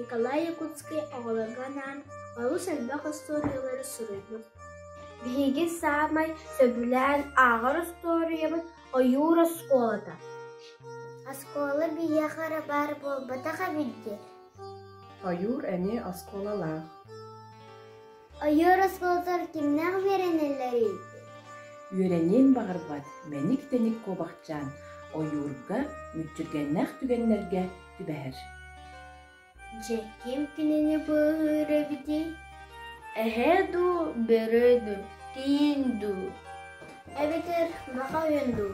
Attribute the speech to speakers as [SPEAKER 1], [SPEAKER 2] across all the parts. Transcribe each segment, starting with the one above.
[SPEAKER 1] Николай Якутский оҕолорго анаан олус элбэх остуоруйалары суруйбут. Биһиги саамай сөбүлээн ааҕар остуоруйабыт ойуур оскуолата.
[SPEAKER 2] Оскуола биһиэхэ эрэ баар буолбатах эбит дии. Ойуур
[SPEAKER 3] эмиэ оскуолалаах.
[SPEAKER 2] Ойуур оскуолатыгар кимнээх үөрэнэллэрий? Үөрэниэн
[SPEAKER 3] баҕарбат мэник-тэник куобахчаан ойуурга, мүччүргэннээх түгэннэргэ түбэһэр. Дьэ,
[SPEAKER 1] ким кинини быыһыыр эбитий? Эһээ дуу, бөрө дуу, киин дуу? Эбэтэр маха өйүн дуу?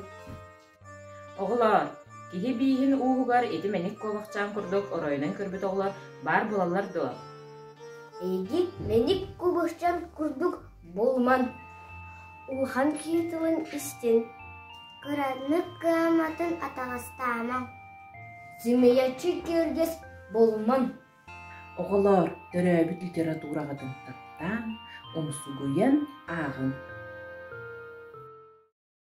[SPEAKER 4] Оҕолоор, киһи бииһин ууһугар ити мэник куобахчаан курдук оройунан көрбүт оҕолор баар буолаллар дуо? Эйиги
[SPEAKER 1] мэник куобахчаан курдук булман. Улахан киһи тылын истин. Кыратнык
[SPEAKER 2] кыаматын атаҕастаамаҥ.
[SPEAKER 1] Сымыйаччы киэргэс булман.
[SPEAKER 3] Оҕолоор, төрөөбүт литератураҕа тымтыктаан, умсугуйан ааҕыҥ.